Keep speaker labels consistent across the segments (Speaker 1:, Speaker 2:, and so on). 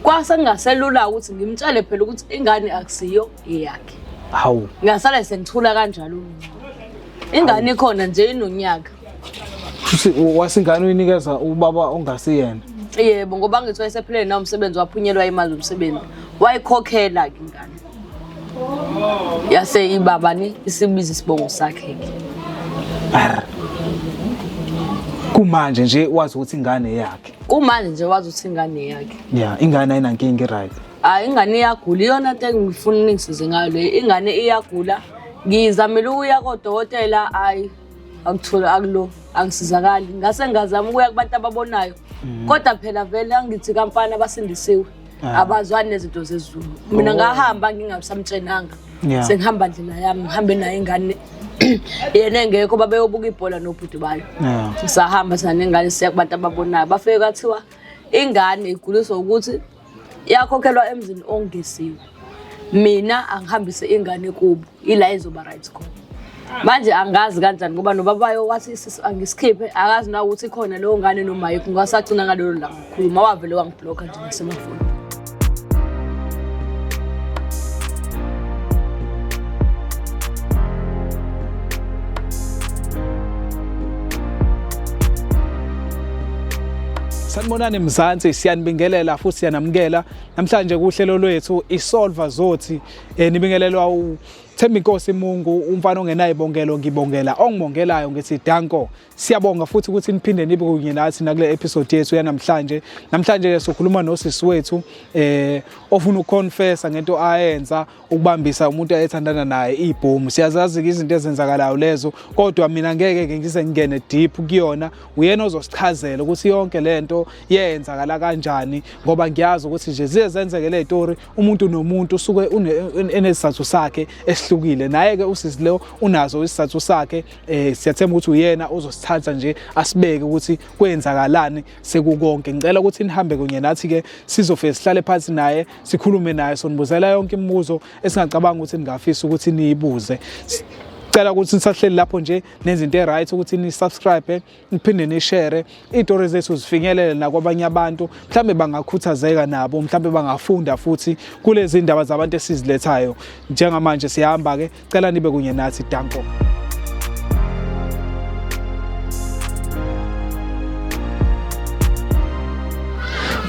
Speaker 1: Kwase kungaselula ukuthi ngimtshele phela ukuthi ingane akusiyo eyakhe. Hawu.
Speaker 2: Ngasale sengithula
Speaker 1: kanjalo mina. Ingane ikhona nje inonyaka. Futhi
Speaker 2: wasingane uyinikeza ubaba ongasiyena. Yebo ngoba
Speaker 1: ngithiwa esephilele nawo umsebenzi waphunyelwa imali umsebenzi. Wayikhokhela ke ingane. Yase ibaba ni isibiza isibongo sakhe ke.
Speaker 2: Kumanje nje wazi ukuthi ingane yakhe. Kumanje nje wazi ukuthi
Speaker 1: ingane yakhe. Yeah, ingane ayinankinga
Speaker 2: right. Hayi ingane iyagula
Speaker 1: iyona into engifuna ningisize ngayo le. Ingane iyagula. Ngizamile ukuya kodokotela hayi akuthole akulo angisizakali. Ngase ngazama ukuya kubantu ababonayo. Mm. Kodwa phela vele angithi kampani abasindisiwe. Ah. abazwani nezinto zezulu mina oh. ngahamba ngingasamtshenanga yeah. sengihamba ndlela yami ngihambe naye ingane yena engekho babeyobuka ibhola nobhuti bayo yeah. sahamba sanengane siya kubantu ababonayo bafike kwathiwa ingane iguliswa ukuthi yakhokhelwa emzini ongesiwe mina angihambise ingane kubo ila izoba right khona manje angazi kanjani ngoba nobabayo wathi sisi angisikhiphe akazi na ukuthi khona leyo ngane nomaye kungasagcina ngalelo langa khuluma wavele wangibhlokha nje ngasemafoni
Speaker 2: sanibonani mzansi siyanibingelela futhi siyanamukela Namhlanje kuhlelo lwethu iSolver Zothi eh, nibingelelwa u Themba inkosi Mungu umfana ongenayo ibongelo ngibongela ongibongelayo ngithi danko siyabonga futhi ukuthi niphinde nibe kunye nathi nakule episode yethu yanamhlanje namhlanje sokhuluma nosisi wethu eh ofuna ukuconfessa ngento ayenza ukubambisa umuntu ayethandana naye ibhomu siyazazi-ke izinto ezenzakalayo lezo kodwa mina ngeke-ke ngize ngingene deep kuyona uyena ozosichazela ukuthi yonke le nto yenzakala kanjani ngoba ngiyazi ukuthi nje ziye zenzeke le tori umuntu nomuntu usuke enesizathu sakhe esihlukile naye-ke usisi leyo unazo isizathu sakhe um siyathemba ukuthi uyena ozosithatha nje asibeke ukuthi kwenzakalani sekukonke ngicela ukuthi nihambe kunye nathi ke sizofike sihlale phansi naye sikhulume naye sonibuzela yonke imibuzo esingacabanga ukuthi ningafisa ukuthi niyibuze cela ukuthi nisahleli lapho nje nezinto e-right ukuthi ni-subscribe niphinde ni-share iy'tori zethu zifinyelele nakwabanye abantu mhlawumbe bangakhuthazeka nabo mhlawumbe bangafunda futhi kulezi ndaba zabantu esizilethayo njengamanje siyahamba-ke Cela nibe kunye nathi danko.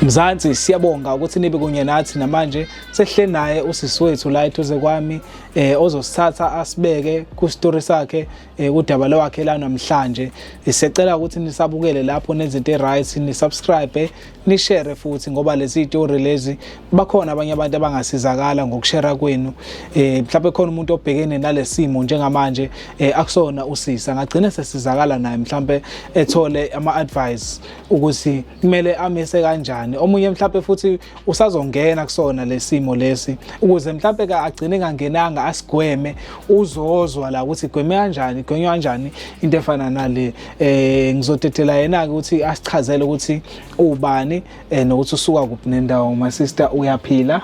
Speaker 2: Mzansi siyabonga ukuthi nibe kunye nathi namanje sehle naye usisi wethu la eduze kwami eh ozosithatha asibeke ku story sakhe eh, udaba lwakhe la namhlanje isecela ukuthi nisabukele lapho nezinto eright nisubscribe nishare futhi ngoba lezi story lezi bakhona abanye abantu abangasizakala ngokushare kwenu eh mhlawumbe khona umuntu obhekene nalesimo njengamanje eh, akusona usisa ngagcina sesizakala naye mhlawumbe ethole ama advice ukuthi kumele amise kanjani omunye mhlawumbe futhi usazongena kusona lesimo lesi ukuze mhlambe ka agcine kangenanga asigweme uzozwa la ukuthi gweme kanjani gwenywa kanjani into efana nale eh ngizotethela yena ke ukuthi asichazele ukuthi ubani eh, nokuthi usuka kuphi nendawo my sister uyaphila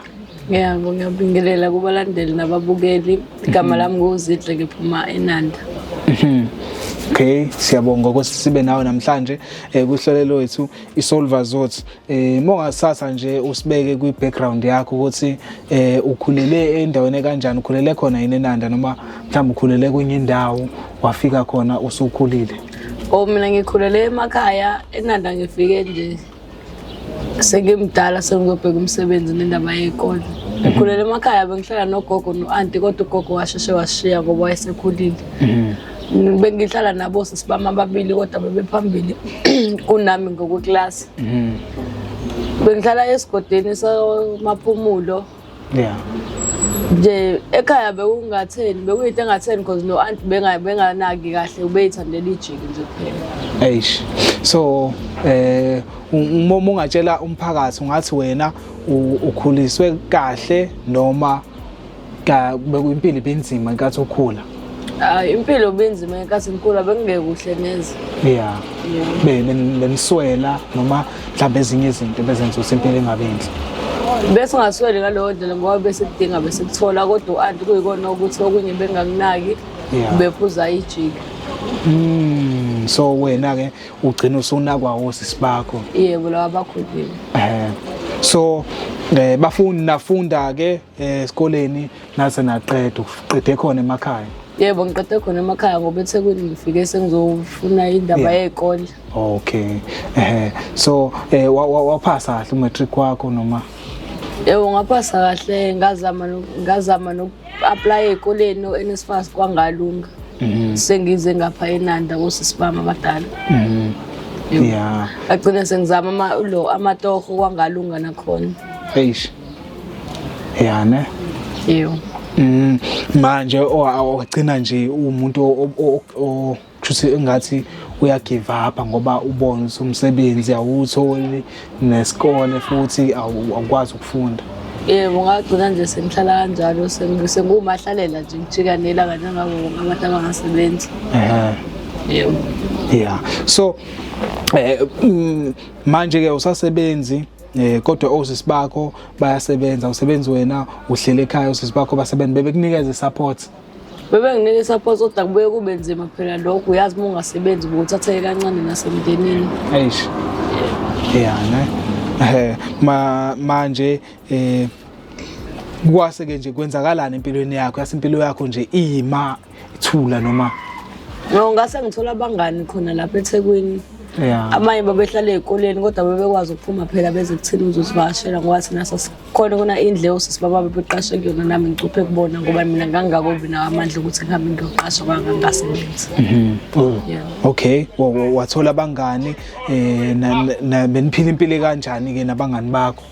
Speaker 2: Ngiyabo
Speaker 1: ngiyabingelela kubalandeli nababukeli igama lami ngozidle ngiphuma enanda mhm. Okay
Speaker 2: siyabonga ukuthi sibe nawe namhlanje eh, kuhlelo lwethu iSolver Zothi eh mongasasa nje usibeke kwi background yakho ukuthi eh ukhulele endaweni kanjani ukhulele khona yini enanda noma mhlawumbe ukhulele kwenye indawo wafika khona usukhulile oh mina
Speaker 1: ngikhulele emakhaya enanda ngifike nje sengimdala sengiyobheka umsebenzi nendaba yekole ngikhulele emakhaya bengihlala nogogo no-anti kodwa ugogo washeshe washiya ngoba wayesekhulile mhm. bengihlala nabo sisi bami ababili kodwa bebephambili kunami ngokweklasi mm. bengihlala esigodini samaphumulo yeah nje ekhaya bekungatheni bekuyinto engatheni because no aunt benganaki kahle ubeyithandela ijiki nje kuphela eish so
Speaker 2: eh uma ungatshela umphakathi ungathi wena ukhuliswe kahle noma Ka bekuyimpilo ibinzima inkathi ukhula. Hayi impilo
Speaker 1: benzima ngenkathi ngikhula bekungeke kuhle neze. Yeah. Yeah.
Speaker 2: Be nen- neniswela noma mhlawumbe ezinye izinto bezenza ukuthi impilo ingabi yinhle. Bese
Speaker 1: ungasweli ngaleyo ndlela ngoba bese kudinga bese kuthola kodwa u-anti kuyikona ukuthi okunye bengakunaki Yeah. bephuza ijika. Mm, so
Speaker 2: wena ke ugcina usunakwa wosisi bakho. Yebo lawa bakhulile.
Speaker 1: Eh.
Speaker 2: So eh bafuni nafunda ke eh, esikoleni nase naqeda uqede khona emakhaya yebo ngiqede khona
Speaker 1: emakhaya ngoba ethekwini ngifike sengizofuna indaba yey'kole okay
Speaker 2: ehe so eh, wa- wa- waphasa kahle umatric wakho noma yebo
Speaker 1: ngaphasa kahle ngazama no- ngazama noku-aplaya ey'koleni o-nsfas kwangalunga Mhm. sengize ngapha enanda kosisi bami abadala Mhm. Yebo.
Speaker 2: ya agcine
Speaker 1: sengizama ama- lo amatoho kwangalunga nakhona eish
Speaker 2: ya ne yebo
Speaker 1: mm,
Speaker 2: manje awagcina nje umuntu kushuthi engathi uyagive up ngoba ubona umsebenzi awutholi nesikole futhi awukwazi ukufunda yebo ngagcina
Speaker 1: nje sengihlala kanjalo sengumahlalela nje ngijika nelanga njengabo bonke abantu abangasebenzi yebo yeah
Speaker 2: so eh mm, manje ke usasebenzi eh kodwa osisi bakho bayasebenza usebenzi wena uhlele ekhaya osisi bakho basebenza bebekunikeza support bebe nginike
Speaker 1: support kodwa kubuye kube nzima phela lokho uyazi uma ungasebenzi ubuthatheke kancane nasemndenini eish
Speaker 2: yeah ne eh ma manje eh kwase ke nje kwenzakalani empilweni yakho yasimpilo yakho nje iyima Ithula noma No ngase
Speaker 1: ngithola abangani khona lapha eThekwini. Yeah. Abanye
Speaker 2: babehlala
Speaker 1: ezikoleni kodwa bebekwazi ukuphuma phela beze kuthina uzosivakashela ngoba thina sasikhona kuna indle osisi baba bebeqashe kuyona nami ngicuphe kubona ngoba mina ngangingako binawo amandla ukuthi ngihambe ngiyoqasha kwangangasebenzi. Mhm. Oh. Yeah.
Speaker 2: Okay, wa- wa- wathola abangani eh na- na- beniphila impilo kanjani ke nabangani bakho?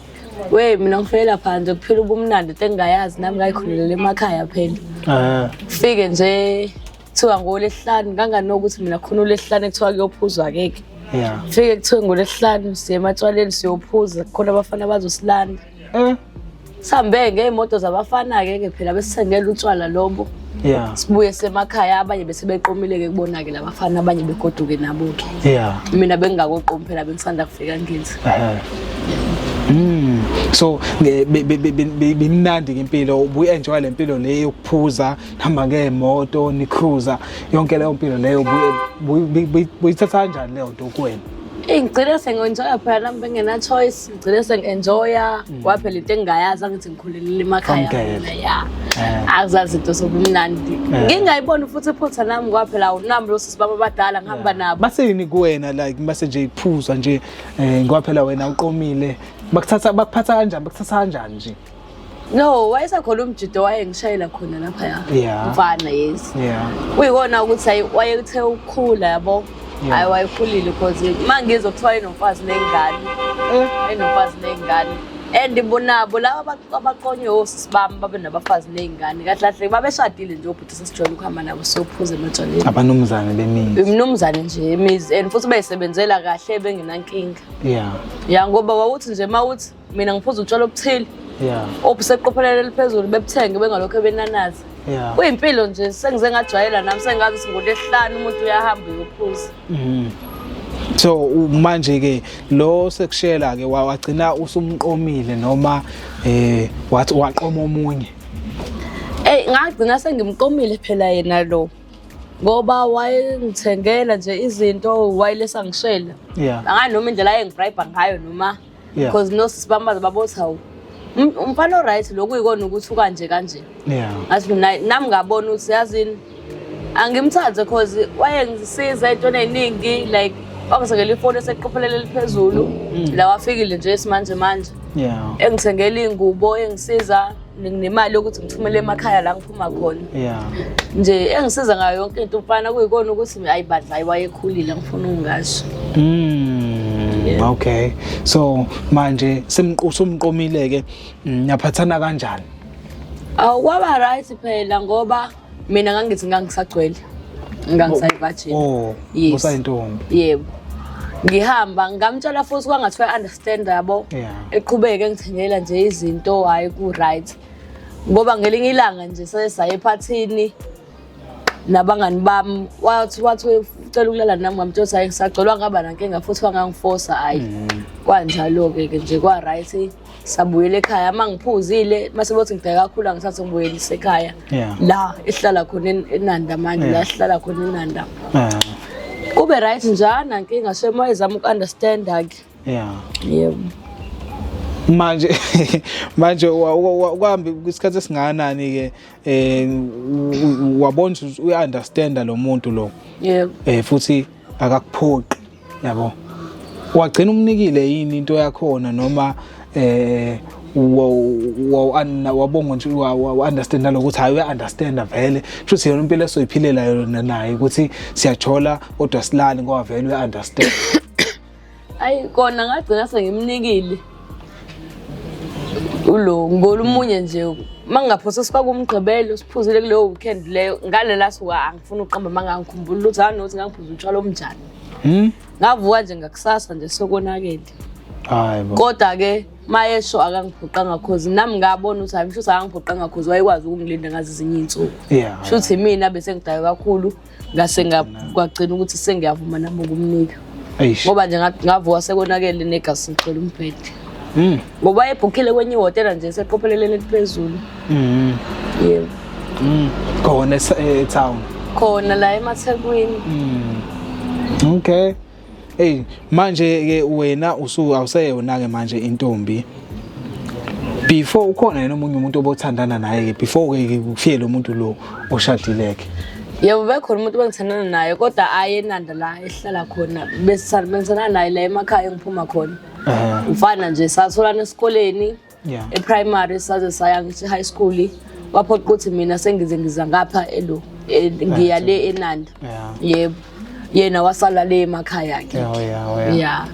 Speaker 2: we mina
Speaker 1: ngifelela phandle kuphila ubumnandi into engingayazi nami ngayikhululele emakhaya phela Ah, fike nje kuthiwa ngolesihlanu nganganokuthi mina khona ulesihlanu ekuthiwa kuyophuzwa keke yeah. fike kuthiwe
Speaker 2: ngolesihlanu
Speaker 1: siye ematshwaleni siyophuza khona abafana bazosilanda Eh, sihambe ngey'moto zabafana-ke ke phela besithengela utshwala lobo yeah. sibuye
Speaker 2: semakhaya
Speaker 1: abanye bese beqomile-ke kubona-ke la bafana abanye begoduke nabo-ke yeah. mina
Speaker 2: bengingakoqomi
Speaker 1: phela bengisanda kufika ngenzi uh -huh. mm.
Speaker 2: so bimnandi be, be, be, ngempilo ubuyi-enjoya le mpilo le yokuphuza nihamba ngeemoto nicruza yonke leyo mpilo leyo buyithatha kanjani leyo nto kuwena eyi ngigcine
Speaker 1: sengenjoya phela nami bengenachoice ngigcine sengi-enjoya mm. kwaphela into engingayazi angithi ngikhulelile emakhaya ya eh. akuzazi into sobumnandi eh. ngingayiboni futhi iphutha nami kwaphela awunami lo sisi baba abadala ngihamba nabo baseyini kuwena like
Speaker 2: base nje iphuzwa nje um eh, kwaphela wena uqomile bakuthatha bakuphatha kanjani bakuthatha kanjani nje no
Speaker 1: wayesakhona umjido wayengishayela khona lapha ya Yeah. mfana yes yeah kuyikona ukuthi ayi wayethe ukukhula yabo Yeah. hayi wayekhulile cause uma ngizwa kuthiwa enomfazi ney'ngane enomfazi ney'ngane and bonabo laba aba- abaqonywe osisi bami babe nabafazi ney'ngane kahle kahle babeshadile nje obhuti sesijwayele ukuhamba nabo siyophuza ematshwaleni abanumzane bemizi
Speaker 2: umnumzane nje
Speaker 1: imizi and futhi bayisebenzela kahle bengenankinga yeah ya ngoba wawuthi nje uma uthi mina ngiphuza utshwala obuthile yeah obuseqophelelo eliphezulu bebuthenge bengalokho ebenanaza yeah kuyimpilo nje sengize ngajwayela nami sengazi singude ehlanu umuntu uyahamba uyophuza mhm
Speaker 2: so manje ke lo sekushela ke wagcina usumqomile noma eh wathi waqoma omunye Ey
Speaker 1: ngagcina sengimqomile phela yena lo ngoba wayengithengela nje izinto wayelesa ngishela yeah anganoma indlela ayengibribe ngayo noma yeah. because no sibambaza babothi hawu um, umfana oright lokhu uyikona ukuthi ukanje kanje yeah. ngathi mina nami ngabona ukuthi yazini angimthande cause wayengisiza entweni eningi like wangithengela ifoni eseqophelele eliphezulu mm. la wafikile nje isimanje manje yeah. engithengela iy'ngubo engisiza nemali yokuthi ngithumele emakhaya la ngiphuma khona yeah nje engisiza ngayo yonke into umfana kuyikona ukuthi ayi badla ayi wayekhulile ngifuna ungasho mm,
Speaker 2: okay so manje simqusa umqomile ke mm, niyaphathana kanjani awu
Speaker 1: kwaba right phela ngoba mina ngangithi ngangisagcwele ngangisayivajini oh, oh
Speaker 2: usayintombi yebo
Speaker 1: ngihamba ngamtshela futhi kwangathiwa i-understand yabo eqhubeke ngithengela nje izinto hhayi ku-right ngoba ngelinye ilanga nje sesaye ephathini nabangani bami wathi wathi ucela ukulala nami ngamtshela ukuthi hayi ngisagcolwa ngaba nankinga futhi wangangifosa hhayi mm. kwanjalo-ke ke nje kwa-right sabuyela ekhaya uma ngiphuzile uma sebothi ngibheka kakhulu angithathe ngibuyelise ekhaya la esihlala khona enanda manje la sihlala khona enanda kube right njani ankinga so uma ezama uku-understanda-ke yebo manje
Speaker 2: manje uhambe isikhathi esingakanani ke eh wabona ukuthi uyaunderstanda lo muntu lo yebo eh futhi akakuphoqi yabo wagcina umnikile yini into yakhona noma eh wabonga nje wa-understand naloko ukuthi hhayi uya-understanda vele kushuthi yona impilo esoyiphilela yona naye ukuthi siyathola kodwa silali ngoba vele uya-understand
Speaker 1: ayi kona ngagcina sengimnikile ulo ngibona umunye nje uma ngingaphosa sifake umgqibelo siphuzile kuleyo weekend leyo ngale last wa angifuni ukuqamba uma ngangikhumbula ukuthi hanothi ngangiphuza utshwala omnjani Hmm? Ngavuka nje ngakusasa nje sokonakele. Hayi bo.
Speaker 2: Kodwa ke
Speaker 1: mayesho akangiphoqanga cause nami ngabona ukuthi hayi mshuthi akangiphoqanga cause wayekwazi ukungilinda ngazi izinye insuku. Yeah. Shuthi mina bese ngidayo kakhulu ngase ngagcina ukuthi sengiyavuma nami ukumnika. Ngoba nje ngavuka sekonakele negasi ngicela umbhede. Hmm. ngoba ebhukhile kwenye ihhotela nje seqopheleleni eliphezulu mm. yebo mm.
Speaker 2: khona etown eh, khona la
Speaker 1: emathekwini mm.
Speaker 2: okay hey manje ke wena usuke awuseyona ke manje intombi before ukhona yena omunye umuntu obothandana naye ke before ke kufike lo muntu lo oshadileke yebo bekhona
Speaker 1: umuntu bengithandana naye kodwa ayenanda la ehlala khona besithandana naye la emakhaya engiphuma khona Eh. mfana nje satholana esikoleni Yeah. eprimary saze saya ngisho high school waphoqa ukuthi mina sengize ngiza ngapha elo e- ngiya le enanda Yeah. yebo yena wasala le emakhaya akhe Yeah, oh, yeah, oh, yeah. ya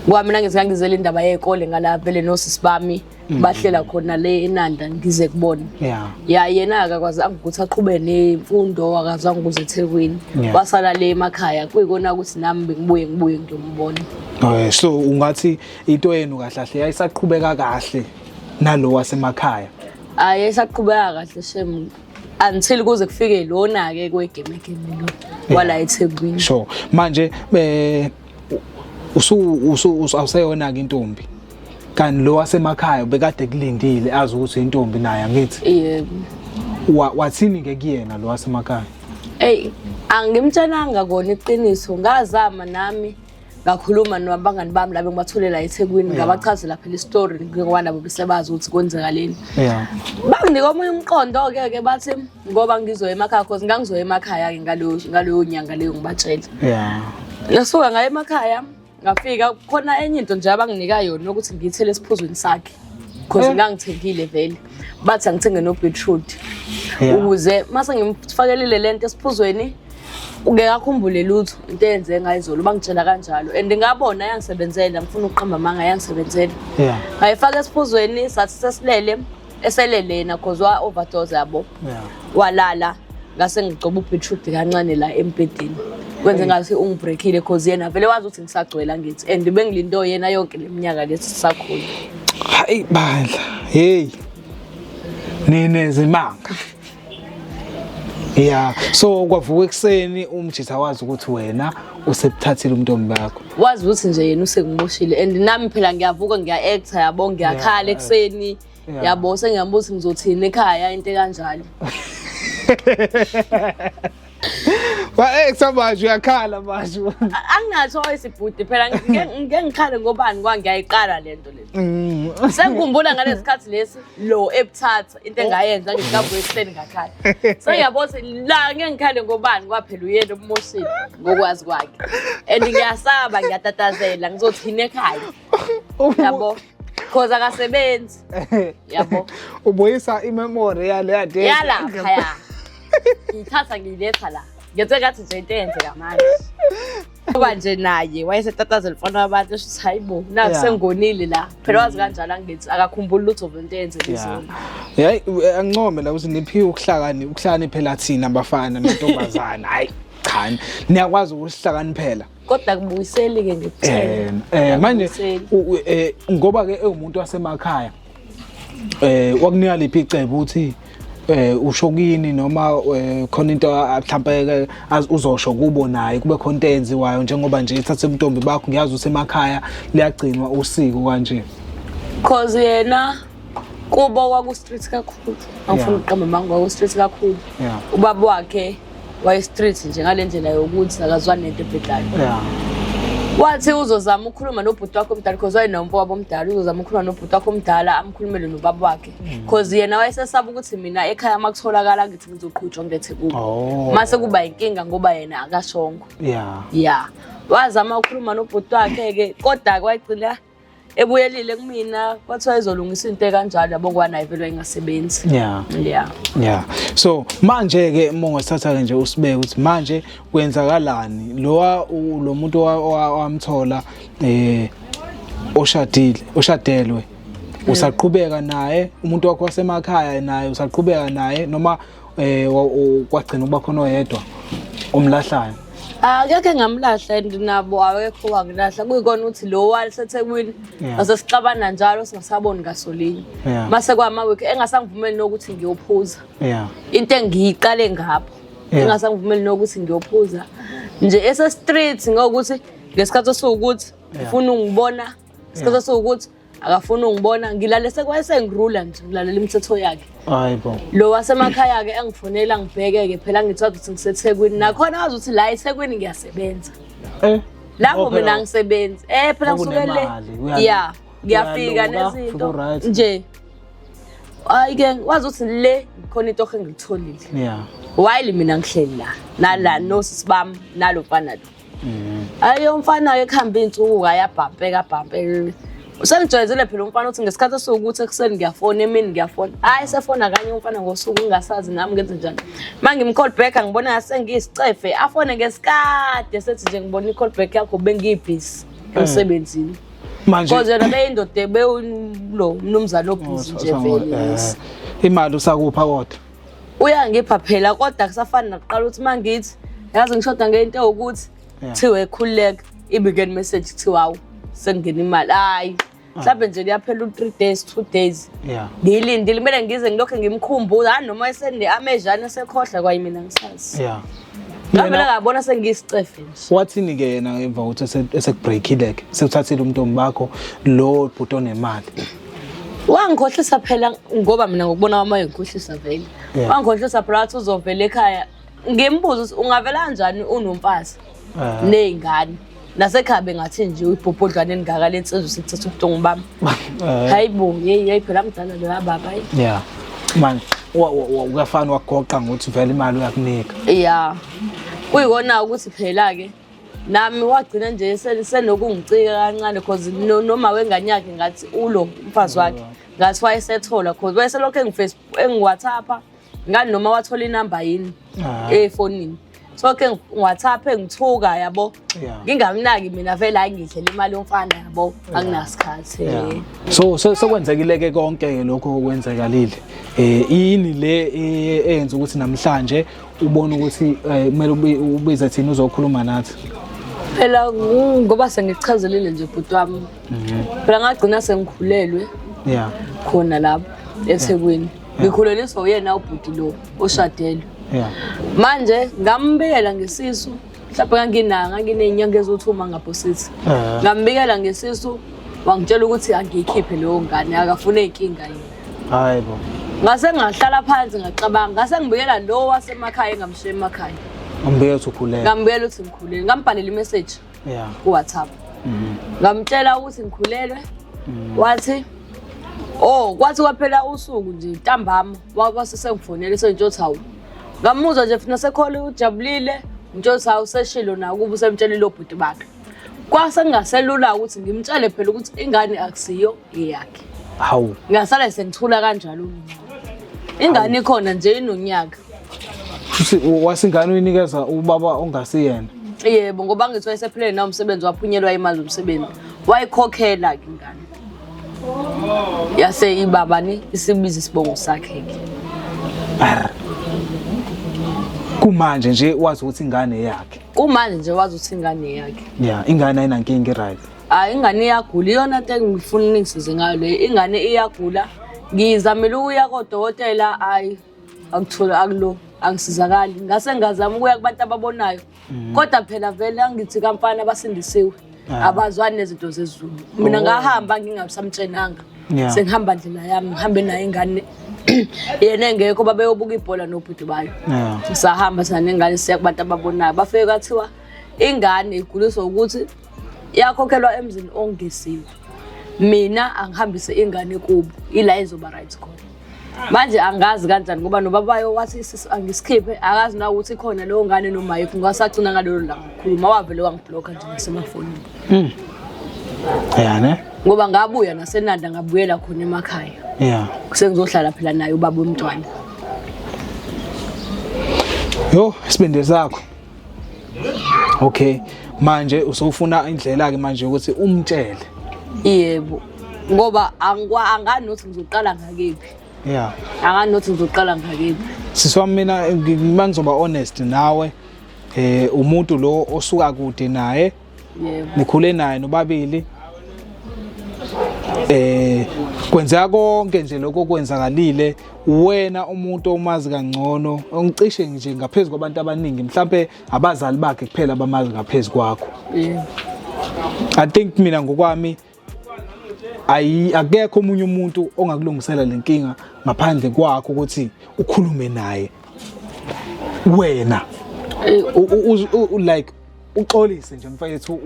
Speaker 1: ngoba mina ngize ngangizela indaba yey'kole ngala vele nosisi bami bahlela khona le enanda ngize kubona yeah ya yena akakwazi angikuthi aqhube nemfundo akazi angikuze eThekwini Yeah. wasala le emakhaya kuyikona ukuthi nami bengibuye ngibuye ngiyombona Eh, so
Speaker 2: ungathi into yenu kahle kahle yayisaqhubeka kahle nalo wasemakhaya ayi esaqhubeka
Speaker 1: kahle shem until kuze kufike lona ke kwegame game lo wala eThekwini sure manje
Speaker 2: eh usu usu usu- awuseyona ke intombi kanti lo wasemakhaya bekade kulindile azi ukuthi intombi naye angithi yebo Wa-
Speaker 1: wathini ke
Speaker 2: kuyena lo wasemakhaya Ey, angimtshelanga
Speaker 1: kona iqiniso. Ngazama nami ngakhuluma nabangani bami labo ngibathulela eThekwini Yeah. ngabachazela phela istory ngoba nabo besebazi ukuthi kwenzakaleni. yeah Banginika omunye umqondo ke ke bathi ngoba ngizoya emakhaya cause ngangizoya emakhaya ke ngaleyo ngaleyo nyanga leyo ngibatshela. yeah Ngasuka ngaye emakhaya ngafika khona enye into nje abanginika yona ukuthi ngiyithele esiphuzweni sakhe because eh. ngangithengile vele bathi angithenge no-beetroot ukuze uma sengimfakelile le nto esiphuzweni ngeke akhumbule lutho into eyenze ngayizolo bangitshela kanjalo and ngabona yangisebenzela ngifuna ukuqamba amanga yangisebenzela ngayifaka esiphuzweni sathi sesilele esele lena cause wa overdose yabo yeah. walala ngase ngigcoba ubeetroot kancane la embhedeni kwenze mm. ngathi ungibreakile cause yena vele wazi ukuthi ngisagcwela ngithi and bengilindo yena yonke leminyaka lesi sakhulu hayi
Speaker 2: bandla hey nine zimanga Yeah, so kwavuka ekuseni umjitha wazi ukuthi wena usebuthathile umntombi bakho. Wazi ukuthi nje yena
Speaker 1: usekumoshile and nami phela ngiyavuka ngiya actor yabo ngiyakhala ekuseni. Yabo sengiyabuza ngizothini ekhaya into kanjalo.
Speaker 2: Ba eh samanje uyakhala manje. Angingathi
Speaker 1: oyisibhuti phela ngike ngike ngikhale ngobani kwa ngiyayiqala lento le. Mm. Sengikhumbula ngalesikhathi lesi lo ebuthatha into engayenza ngikavuka ekuseni ngakhala. Sengiyabona ukuthi la ngeke ngikhale ngobani kwaphela uyena obumoshile ngokwazi kwakhe. And ngiyasaba ngiyatatazela ngizothi yini ekhaya. Yabo. Cause akasebenzi. Yabo. Ubuyisa
Speaker 2: imemory yale yade. Yala phaya.
Speaker 1: ngiyithatha ngiyiletha la ngiyethe kathi nje into eyenzeka manje kuba nje naye wayesetatazela umfana wabantu esho ukuthi hayi bo naku Yeah. sengonile la phela wazi kanjalo angithi akakhumbuli lutho vele into eyenzeka Yeah. izolo Yayi u- eh,
Speaker 2: angincome la ukuthi niphiwe ukuhlakani ukuhlakaniphela thina bafana nentombazana hayi cha niyakwazi ukusihlakaniphela
Speaker 1: kodwa akubuyiseli ke ngikuthele
Speaker 2: eh manje eh, ngoba ke ewumuntu wasemakhaya eh wakunika liphi icebo uthi eh usho kini noma eh, khona into mhlambe uzosho kubo naye kube khona into eyenziwayo njengoba nje ithathe ubuntombi bakho ngiyazi usemakhaya liyagcinwa usiko kanje cause
Speaker 1: yena kubo kwaku-street kakhulu angifuna ukuqamba manga kwaku-street kakhulu ubaba wakhe waye-street nje ngale ndlela yokuthi akazwani nento ebhedayo wathi uzozama ukukhuluma nobhuti wakho omdala because wayenomfo wabo omdala uzozama ukukhuluma nobhuti wakho omdala amkhulumele nobaba wakhe because mm. yena wayesesaba ukuthi mina ekhaya uma kutholakala ngithi ngizoqhutshwa ngilethe kubo oh. mase kuba yinkinga ngoba yena akashongo ya ya wazama ukukhuluma nobhuti wakhe-ke kodwa kwagcina ebuyelile kumina kwathiwa izolungisa into ekanjalo yabo kwanayo vele ingasebenzi yeah yeah
Speaker 2: yeah so manje ke mongasithatha ke nje usibeke ukuthi manje kwenzakalani lowa lo muntu owamthola eh oshadile oshadelwe usaqhubeka naye umuntu wakho wasemakhaya naye usaqhubeka naye noma eh wa- u- kwagcina ukuba khona oyedwa omlahlayo akekho
Speaker 1: engamlahla and nabo awekho wakulahla kuyikona ukuthi lo wali sethekwini Yeah. ngase sixabana njalo singasaboni ngasolinye Yeah. mase kwamawiki engasangivumeli nokuthi ngiyophuza yeah into engiyiqale ngapho Yeah. engasangivumeli nokuthi ngiyophuza nje esestreet ngokuthi ngesikhathi esiwukuthi ufuna ungibona isikhathi esiwukuthi akafuni ungibona ngilale sekwayesengirula nje ngilalela imithetho yakhe hayi bo lo
Speaker 2: wasemakhaya-ke
Speaker 1: engifonela ngibheke-ke phela ngithiwa ukuthi ngisethekwini nakhona wazi ukuthi la ethekwini ngiyasebenza eh lapho mina ngisebenzi eh phela ngisuke le ya ngiyafika nezinto nje ayike wazi ukuthi le khona into engilitholile yeah while mina ngihleli la nala nosisi bami nalo mfana lo mm. ayo umfana ke khamba insuku ayabhampeka bhampeka usengijwayezile phela umfana uthi ngesikhathi esiwukuthi ekuseni ngiyafona emini ngiyafona hayi sefona kanye umfana ngosuku ngingasazi nami ngenze njani uma ngimcall back angibona ngathi sengiyisicefe afone ngesikade sethi nje ngibona i-call back yakho bengiyibhizi eh. emsebenzini manje because yena beyindoda bewulo mnumzane obhizi nje vele eh. imali
Speaker 2: usakupha kodwa uyangipha
Speaker 1: phela kodwa kusafani nakuqala ukuthi uma ngithi yazi ngishoda ngento ewukuthi kuthiwa ekhululeka ibikeni message kuthiwa awu sekungena imali hhayi ah. mhlawumbe nje liyaphela u-three days two days ngiyilindile kumele ngize ngilokhu ngimkhumbuza hhayi noma esende amejane esekhohlwa kwayi mina ngisazi ngavele ngabona sengiyisicefe nje wathini-ke yena emva
Speaker 2: kokuthi esekubreakile-ke sekuthathile umntombi bakho lo bhuti onemali
Speaker 1: wangikhohlisa phela ngoba mina ngokubona kwami wayengikhohlisa vele Yeah. wangikhohlisa phela wathi uzovela ekhaya ngimbuza ukuthi ungavela kanjani unomfazi Ah. ney'ngane nasekhaya bengathi nje uyibhobhodlwane elingaka le nsizwa sekuthatha ubuhlungu bami Eh, hayi bo yeyi yeyi phela mdala loya baba hayi yeah
Speaker 2: manje wa- wa- wa- uyafana wagoqa ngokuthi vele imali uyakunika ya
Speaker 1: kuyikona ukuthi phela-ke nami wagcina nje senokungicika kancane cause noma wengane yakhe ngathi ulo umfazi wakhe ngathi wayesethola cause wayeselokhu engifacebook engiwhatsappa ngani noma wathola inamba yini ah. efonini so ke ngiwhatsappa engithuka yabo ngingamnaki mina vele hayi ngidlela imali yomfana yabo anginasikhathi so
Speaker 2: sekwenzekile ke konke lokho okwenzekalile um yini le e, eyenza ukuthi namhlanje ubona ukuthi eh, kumele ubize thina uzokhuluma nathi phela
Speaker 1: ngoba sengichazelile nje bhuti wami mhm. phela ngagcina sengikhulelwe ya khona lapho ethekwini ngikhuleliswa uyena ubhuti lo oshadelwe manje ngambiyela ngesisu mhlawumbe kanginanga nganginey'nyanga eziwuthi uma ngaphosisi ah. ngambikela ngesisu wangitshela ukuthi angiyikhiphe leyo ngane akafune inkinga yini hayi bo
Speaker 2: ngase ngahlala
Speaker 1: phansi ngacabanga ngase ngibuyela lo wasemakhaya engamshiya emakhaya ngambuyela ukuthi ukhulele
Speaker 2: ngambuyela ukuthi ngikhulele
Speaker 1: ngambhalela imessage yeah kuwhatsapp mhm. ngamtshela ukuthi ngikhulelwe mhm. wathi oh kwathi kwaphela usuku nje ntambama wasise ngifonele sentshothi hawu ngamuzwa nje funa sekhole ujabulile ngitsho sawu seshilo nawo kuba usemtshelile obhuti bakhe kwase ngingaselula ukuthi ngimtshele phela ukuthi ingane akusiyo eyakhe hawu ngasala
Speaker 2: sengithula
Speaker 1: kanjalo mina ingane ikhona nje inonyaka
Speaker 2: wasingane uyinikeza ubaba ongasiyena yebo ngoba
Speaker 1: ngithiwa esephilele nawo umsebenzi waphunyelwa imali zomsebenzi wayikhokhela-ke ingane yase ibaba ne isibiza isibongo sakhe ke
Speaker 2: kumanje nje wazi ukuthi ingane yakhe kumanje nje wazi ukuthi
Speaker 1: ingane yakhe ya ingane ayinankinga
Speaker 2: right hayi ingane iyagula
Speaker 1: iyona nto engifuna uningisize ngayo leyo ingane iyagula ngizamele ukuya kodokotela hayi akutholi akulo angisizakali ngase ngazama ukuya kubantu ababonayo Mm. kodwa phela vele angithi kamfana abasindisiwe ah. abazwani nezinto zezulu mina oh. ngahamba ngingasamtshenanga sengihamba ndlela yami ngihambe naye ingane yena engekho babeyobuka ibhola nobhuti bayo sahamba sana nengane siya kubantu ababonayo bafike kwathiwa ingane iguliswa ukuthi yakhokhelwa emzini ongeziwe mina angihambise ingane kubo ila izoba right khona manje angazi kanjani ngoba nobabayo wathi angisikhiphe akazi na ukuthi khona leyo ngane nomayekho ngasagcina ngalelo langa khuluma wavele wangibhlokha nje ngasemafonini mm. ya
Speaker 2: ne ngoba ngabuya
Speaker 1: nasenanda ngabuyela khona emakhaya ya sengizohlala phela naye ubaba womntwana
Speaker 2: yho isibindi sakho okay manje usofuna indlela ke manje ukuthi umtshele yebo
Speaker 1: ngoba angikwa angani nokuthi ngizoqala ngakephi yeah angani nokuthi ngizoqala ngakephi sisi wami mina
Speaker 2: mangizoba honest nawe eh umuntu lo osuka kude naye Yebo. Nikhule
Speaker 1: naye
Speaker 2: nobabili. Eh kwenzeka konke nje lokho kwenzakalile wena umuntu omazi kangcono ongicishe nje ngaphezulu kwabantu abaningi mhlambe abazali bakhe kuphela abamazi ngaphezulu kwakho. Yebo. I think mina ngokwami ayi akekho omunye umuntu ongakulungisela le nkinga ngaphandle kwakho ukuthi ukhulume naye wena like uxolise nje mfethu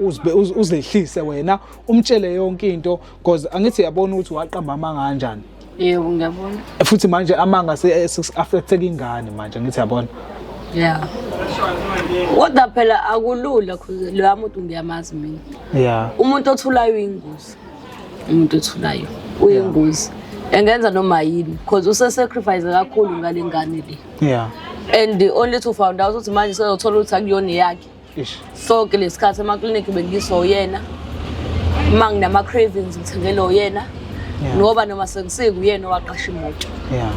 Speaker 2: uzehlise wena umtshele yonke into because angithi yabona ukuthi waqamba amanga kanjani yebo ngiyabona
Speaker 1: futhi manje amanga
Speaker 2: affecteka ingane manje ngithi yabona yeah
Speaker 1: kodwa phela akulula cause loya muntu ngiyamazi mina yeah umuntu othulayo uyingozi umuntu othulayo uyingozi engenza noma yini cause usesacrifice kakhulu ngale ngane le yeah and only to found out ukuthi manje sezothola ukuthi akuyona yakhe so ke lesikhathi emaklinikhi bengiswa uyena uma nginama-cravings ngithengele uyena ngoba noma sekusiku uyena owaqasha imoto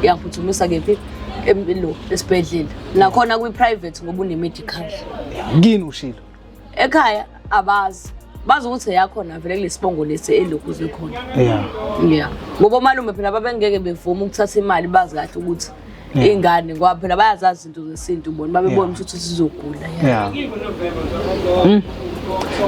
Speaker 1: yangiphuthumisa kephi lo esibhedlela nakhona kwi-private ngoba une-medical kini ushilo
Speaker 2: ekhaya
Speaker 1: abazi bazi ukuthi eyakhona vele kulesibongo lesi elokhu zikhona yeah yeah ngoba omalume phela babengeke bevuma ukuthatha imali bazi kahle ukuthi iy'ngane ngoba phela bayazazi izinto zesintu bona babebona ukuthi sizogula yeah.
Speaker 2: mm.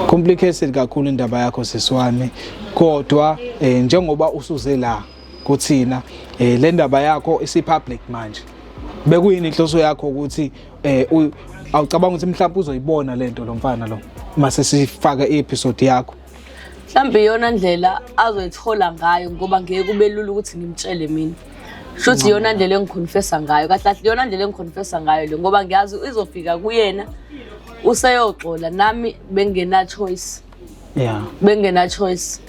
Speaker 2: complicated kakhulu indaba yakho sisi wami kodwa eh, njengoba usuze la kuthina eh, le ndaba yakho isipublic manje bekuyini inhloso yakho ukuthi eh, awucabanga ukuthi mhlawumbe uzoyibona lento lo mfana lo mase sifaka i-episode yakho mhlawumbe iyona
Speaker 1: ndlela azoyithola ngayo ngoba ngeke kube lula ukuthi ngimtshele mina sho ukuthi iyona ndlela engikhonfesa ngayo kahle kahle iyona ndlela engikhonfesa ngayo le ngoba ngiyazi izofika kuyena useyoxola nami bengena-choice ya bengena-choice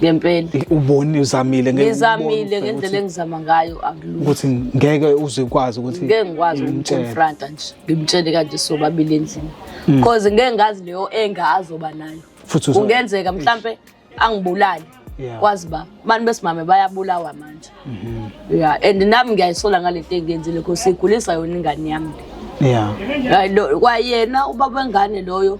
Speaker 1: ngempela uboni
Speaker 2: uzamile ngizamile ngendlela
Speaker 1: engizama ngayo akulula ukuthi ngeke
Speaker 2: uze ukwazi ukuthi ngeke ngikwazi ukumconfronta
Speaker 1: nje ngimtshele kanje sobabili endlini because mm. ngeke ngazi leyo enga azoba nayo futhi uzo- kungenzeka mhlampe angibulale Yeah. kwazi ba abantu besimame bayabulawa manje ya and nami ngiyayisola ngale nto engenzile because igulisa yona ingane yami yeah Hayi, lo- kwayena ubaba wengane loyo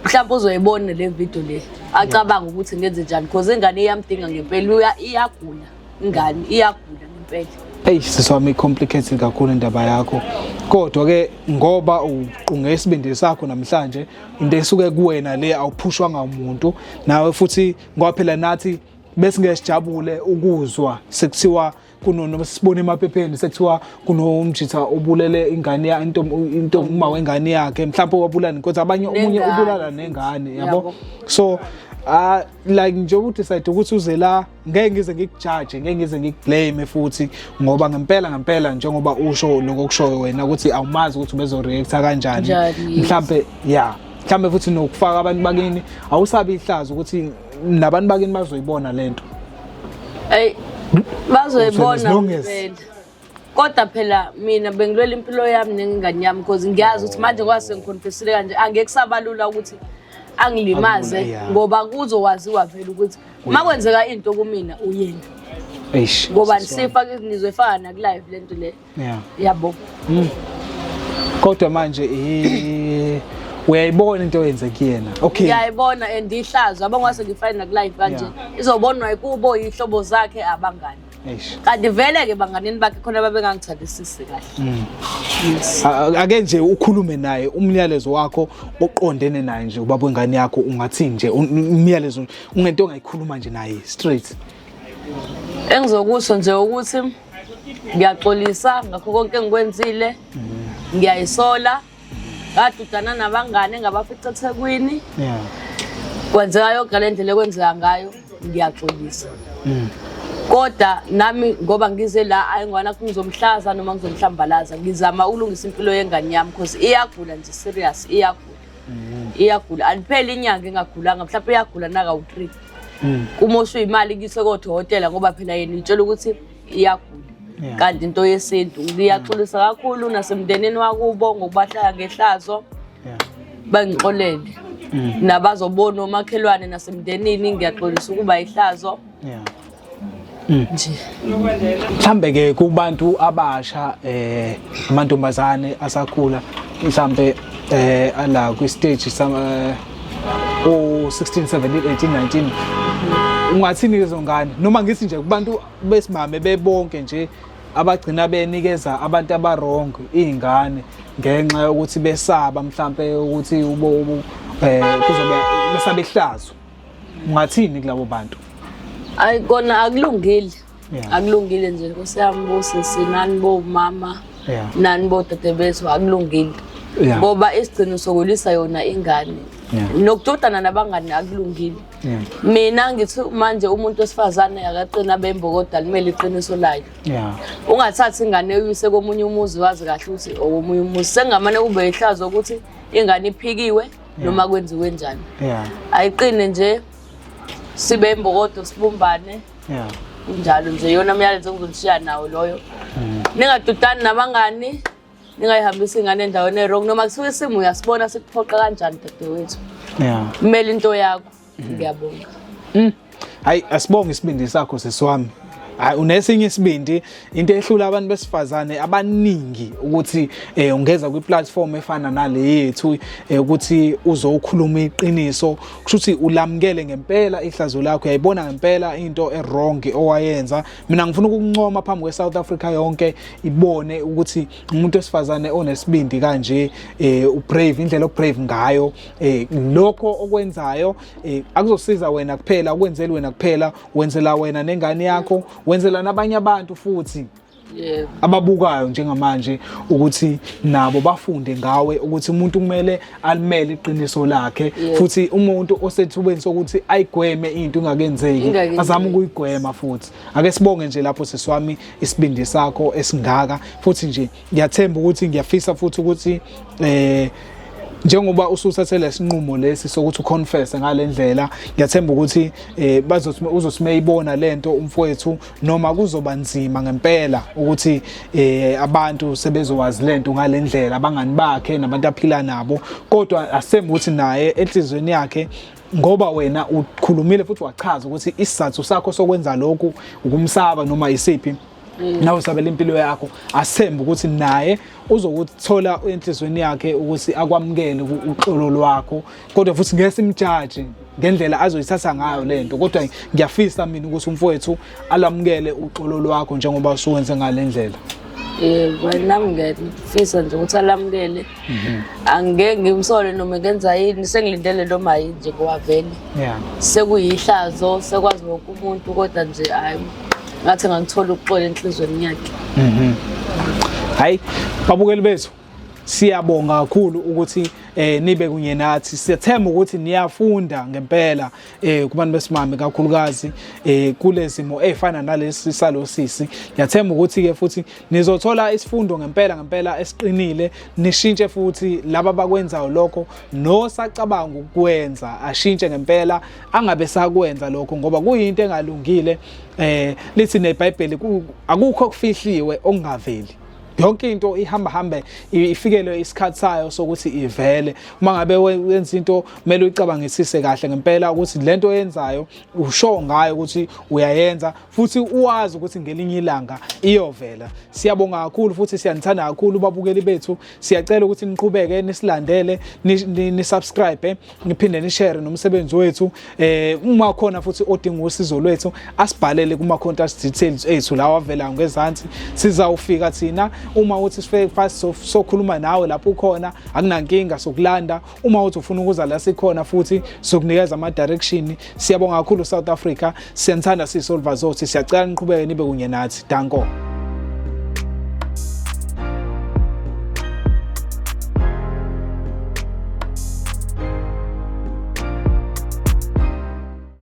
Speaker 1: mhlawumbe uzoyibona le video le acabanga ukuthi ngenze njani because ingane iyamdinga ngempela uya- iyagula ingane iyagula ngempela eyi sisi wami i-complicated
Speaker 2: kakhulu indaba yakho kodwa-ke ngoba uqunge isibindi sakho namhlanje into esuke kuwena le awuphushwanga umuntu nawe futhi ngoba phela nathi besingeke sijabule ukuzwa sekuthiwa kunono sibone emaphepheni sekuthiwa kunomjitha obulele ingane ya into into uma wengane yakhe mhlawumbe wabulala kodwa abanye omunye ubulala nengane yabo so ah like nje u decide ukuthi uze la ngeke ngize ngikujaje ngeke ngize ngikublame futhi ngoba ngempela ngempela njengoba usho lokho okushoyo wena ukuthi awumazi ukuthi ubezoreacta kanjani Njani, yes. mhlambe ya mhlambe futhi nokufaka abantu bakini awusabi ihlazo ukuthi nabantu bakini bazoyibona lento Ay
Speaker 1: bazoyibona Uthole isilungisi. vele. kodwa phela mina bengilwela impilo yami nengane yami because ngiyazi ukuthi manje ngoba sengikhonfesile kanje angeke kusabalula ukuthi angilimaze Akulula, yeah. ngoba kuzowaziwa vele ukuthi uma kwenzeka into kumina uyena Eish. ngoba sifa ngizoyifaka nakulive le nto le Yeah. yabo
Speaker 2: Kodwa manje eh uyayibona into oyenze kuyena. Okay. ngiyayibona and
Speaker 1: ihlazo yabo ngase ngifane nakulive kanje Yeah. izobonwa yikubo yihlobo zakhe abangani kanti vele-ke banganini bakhe khona babengangithandisisi kahle mm.
Speaker 2: ake nje ukhulume naye umyalezo wakho oqondene naye nje ubaba wengane yakho ungathi nje umyalezo ungento ongayikhuluma nje naye straight
Speaker 1: engizokusho nje ukuthi ngiyaxolisa ngakho konke engikwenzile mm. ngiyayisola ngadudana nabangane ngabafica ethekwini yeah. kwenzeka yoga le ndlela ekwenzeka ngayo ngiyaxolisa mm. kodwa nami ngoba ngize la ayingwana kungizomhlaza noma ngizomhlambalaza ngizama ukulungisa impilo yengane yami because iyagula nje serious iyagula mm. iyagula alipheli inyanga engagulanga mhlawumbe iyagula nakawu-three mm. uma usuyimali kuyise kodokotela ngoba phela yena uyitshela ukuthi iyagula yeah. kanti into yesintu ngiyaxolisa mm. kakhulu nasemndenini wakubo ngokubahlala ngehlazo yeah. bangixolele mm. nabazobona omakhelwane nasemndenini ngiyaxolisa ukuba ihlazo yeah.
Speaker 2: Mm. nje mhlambe ke kubantu abasha eh amantombazane asakhula mhlambe eh ala kwi stage sama eh, o 16 17 18 19 ungathini lezo ngane noma ngithi nje kubantu besimame bebonke nje abagcina benikeza abantu abarong izingane ngenxa yokuthi besaba mhlambe ukuthi ubo eh kuzobe besabehlazo ungathini kulabo bantu ayikona
Speaker 1: akulungile Yeah. akulungile nje nkosi yami bosisi nani bomama Yeah. nani bodade bethu akulungile Yeah. ngoba isigcino sokulisa yona ingane Yeah. nokudodana nabangani akulungile Yeah. mina ngithi manje umuntu wesifazane akaqina bembo kodwa limele iqiniso layo Yeah. ungathathi ingane uyise komunye umuzi wazi kahle ukuthi okomunye umuzi sengamane kube ihlazo ukuthi ingane iphikiwe noma kwenziwe njani Yeah. ayiqine nje sibe imbokodo sibumbane yeah kunjalo nje yona myalezo engizoshiya nawo loyo mm. ningadudani nabangani ningayihambisi ingane endaweni erong noma kusuke isimo uyasibona sikuphoqa kanjani dadewethu yeah kumele into yakho mm. ngiyabonga mm.
Speaker 2: hayi asibonge isibindi sakho sesiwami hayi unesinye isibindi into ehlula abantu besifazane abaningi ukuthi eh, ungeza kwi-platform efana nale yethu eh, ukuthi uzokhuluma iqiniso kusho ukuthi ulamukele ngempela ihlazo lakho uyayibona ngempela into e-wrong owayenza mina ngifuna ukuncoma phambi kwe-south africa yonke ibone ukuthi umuntu wesifazane onesibindi kanje eh, ubrave indlela obrave ngayo eh, lokho okwenzayo eh, akuzosiza wena kuphela ukwenzeli wena kuphela wenzela wena nengane yakho wenzela nabanye abantu futhi yebo ababukayo njengamanje ukuthi nabo bafunde ngawe ukuthi umuntu kumele alimele iqiniso lakhe Yebo. futhi umuntu osethubeni sokuthi ayigweme into ingakenzeki Ingakenzeki. azame ukuyigwema futhi ake sibonge nje lapho siswami isibindi sakho esingaka futhi nje ngiyathemba ukuthi ngiyafisa futhi ukuthi eh njengoba usuthathe lesinqumo lesi sokuthi uconfess ngalendlela ngiyathemba ukuthi eh bazothi uzosimeyibona lento umfowethu noma kuzoba nzima ngempela ukuthi eh abantu sebezowazi lento ngalendlela abangani bakhe nabantu aphila nabo kodwa asembe ukuthi naye enhlizweni yakhe ngoba wena ukhulumile futhi wachaza ukuthi isizathu sakho sokwenza lokhu ukumsaba noma isiphi Mm. nawe usabela impilo yakho asembe ukuthi naye uzokuthola enhlizweni yakhe ukuthi akwamukele uxolo lwakho kodwa futhi ngeke simjaje ngendlela azoyithatha ngayo lento kodwa ngiyafisa mina ukuthi umfowethu alamukele uxolo lwakho njengoba usuwenze ngalendlela eh
Speaker 1: nami ngiyafisa nje ukuthi alamukele Mhm. angeke ngimsole noma ngenza yini sengilindele nto mayi nje kowavele yeah. sekuyihlazo sekwazi wonke umuntu kodwa nje hayi ngathi ngangithola ukuxola enhlizweni yakhe mhm.
Speaker 2: hayi babukeli bethu siyabonga kakhulu ukuthi eh nibe kunye nathi siyethemba ukuthi niyafunda ngempela eh kubantu besimame kakhulukazi eh kulezimo efana nalesi salosisi ngiyathemba ukuthi ke futhi nizothola isifundo ngempela ngempela esiqinile nishintshe futhi laba bakwenzayo lokho nosacabanga ukwenza ashintshe ngempela angabe sakwenza lokho ngoba kuyinto engalungile eh lithi neBhayibheli akukho okufihliwe okungaveli yonke into ihamba hambe ifikelwe isikhathi sayo sokuthi ivele uma ngabe wenza into kumele uyicabangisise kahle ngempela ukuthi lento oyenzayo usho ngayo ukuthi uyayenza futhi uwazi ukuthi ngelinye ilanga iyovela siyabonga kakhulu futhi siyanithanda kakhulu babukeli bethu siyacela ukuthi niqhubeke nisilandele nisubscribe niphinde nishare nomsebenzi wethu eh uma khona futhi odinga usizo lwethu asibhalele kuma contact details ethu lawa avela ngezansi sizawufika thina uma uthi sifike fast sokhuluma nawe lapho ukhona akunankinga sokulanda uma uthi ufuna ukuza la sikhona futhi sokunikeza ama direction siyabonga kakhulu South Africa siyanthanda sisolva zothi siyacela niqhubeke nibe kunye nathi danko